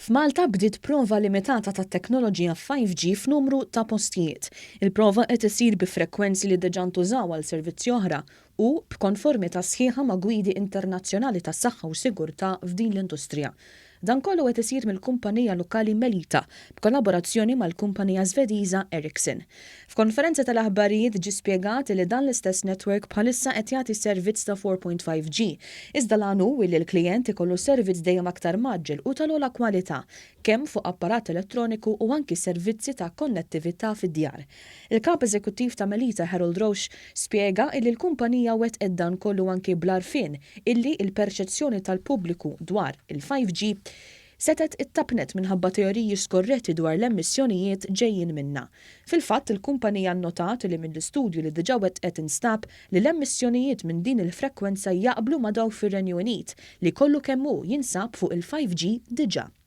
F'Malta bdiet prova limitata tat-teknoloġija 5G f'numru ta' postijiet. Il-prova qed issir bi frekwenzi li diġà ntużaw għal servizzi oħra u b'konformità sħiħa ma' gwidi internazzjonali tas-saħħa u sigurtà f'din l-industrija. Dan kollu qed isir mill-kumpanija lokali Melita b'kollaborazzjoni mal-kumpanija Żvediża Ericsson. F'konferenza tal-aħbarijiet ġie spjegat li dan l-istess network bħalissa qed jagħti servizz ta' 4.5G, iżda l-għan hu li l-klijent ikollu servizz dejjem aktar mgħaġġel u tal-ogħla kwalità, kemm fuq apparat elettroniku u anki servizzi ta' konnettività fid-djar. Il-Kap Eżekuttiv ta' Melita Harold Roche spjega illi l-kumpanija wettqet dan kollu anki bl-għarfien illi il-perċezzjoni tal-pubbliku dwar il-5G setgħet ittappnet minħabba teoriji skorretti dwar l-emissjonijiet ġejjin minnha. Fil-fatt, il-kumpanija nnotat li mill-istudju li diġa wettqet instab li l-emissjonijiet minn din il-frekwenza jaqblu ma' dawk fir-Renju Unit li kollu kemm hu jinsab fuq il-5G diġa.